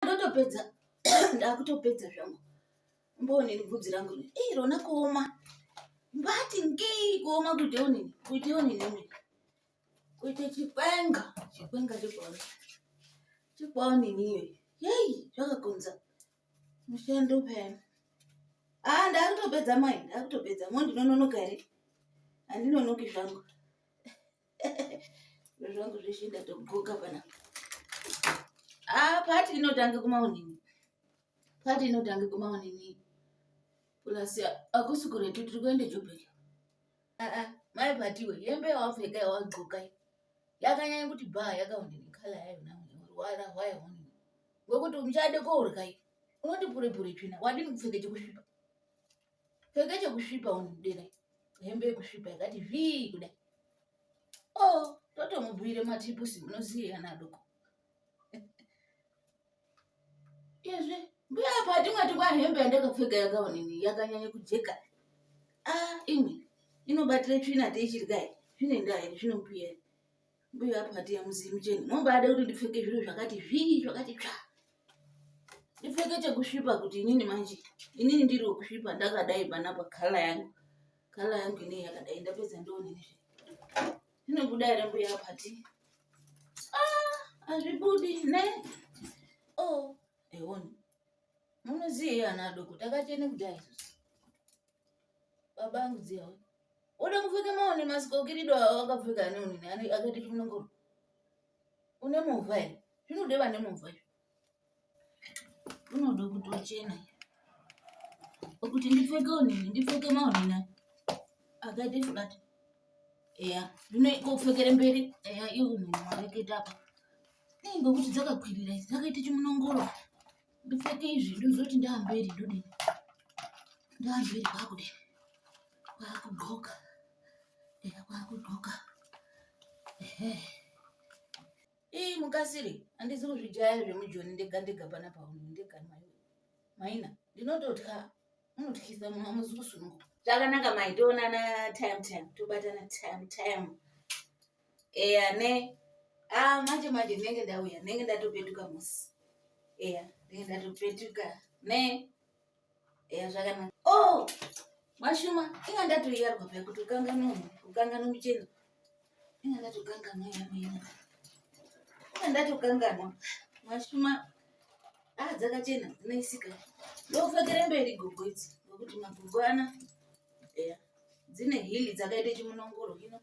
ndotopedza ndakutopedza zvangu mbonini bvudzi rangu ii rona kuoma mbati ngei kuoma kuite onini kuite onini mini kuite chikwenga chikwenga chikwawo chikwawo nini iyoyi yei zvakakonza mushando payani haa ah, ndakutopedza mai ndakutopedza mondinononoka here handinonoki zvangu Zviro zvangu zveshe ndatodxoka pana. Ah, part inotanga kumaonini. Part inotanga kumaonini. Plus akusi kuretu tiri kuenda Joburg. Ah ah, mai patiwe hembe yawapfeka yawadxoka yakanyanya kuti bhaa yakaonini nekhala yayo nayo rwara rwayo onini. Ngokuti muchade kourya unoti pure pure tsvina wadini kupfeka chekusvipa. pfeka chekusvipa unodera hembe yekusvipa yakati zvii kudai o oh, totomubhuire matipusi munoziye ana adoko izvi mbuya apa hatimwati kwa hembe yandakapfeka yakaonini yakanyanya kujeka a ah, imwe inobatira tsvina teichirya zvine ndaa iri zvinombuya Mbuya apo hati yamuzivi mucheni mumbada kuti ndipfeke zviro zvakati zvii zvakati tsva ndipfeke chekusvipa kuti inini manje inini ndiri wekusvipa ndakadai panapa khala yangu khala yangu inei yakadai ndapedza ndonini zvinobuda here mbuya apo hati ah, hazvibudi ne o oh, ewoni munoziei ana adoko takachene kudai isusu Baba angu dziya wani. Uda kupfeka maone masikokirido awo akapfeka ane unini ane akati kunongo. Une movha here? Zvinode vane movha izvo. Unoda kuti uchena. Kuti ndipfeke unini ndipfeke maone na. Akati flat. Eya, zvino ikopfekere mberi. Eya, iwe unini mareketa apa. Nei ngokuti dzakakwirira idzi dzakaita chimunongoro. ndipfeke izvi ndozoti ndaamberi ndodii ndaamberi kwakudii kwakudxoka eya kwakudxoka ehe ii mukasiri handizi kuzvijaya zvemujoni ndega ndega pana pauni ndega mai maina ndinototya unotyisa munhu amuzi kusununguka zvakanaka mai toonana time time tobatana time time eya ne ah manje manje ndinenge ndauya ndinenge ndatopetuka musi eya ndinenge ndatopetuka ne eya zvakanaka oh mashuma inga ndatoyarwa paya kuti ukanganwa ukanganwa muchena inga ndatokanganwa yamwena inga ndatokanganwa mashuma ah dzakachena dzinoisika ndokufekere mberi gogo idzi ngokuti magogo ana eya dzine hili dzakaita chimunongoro hino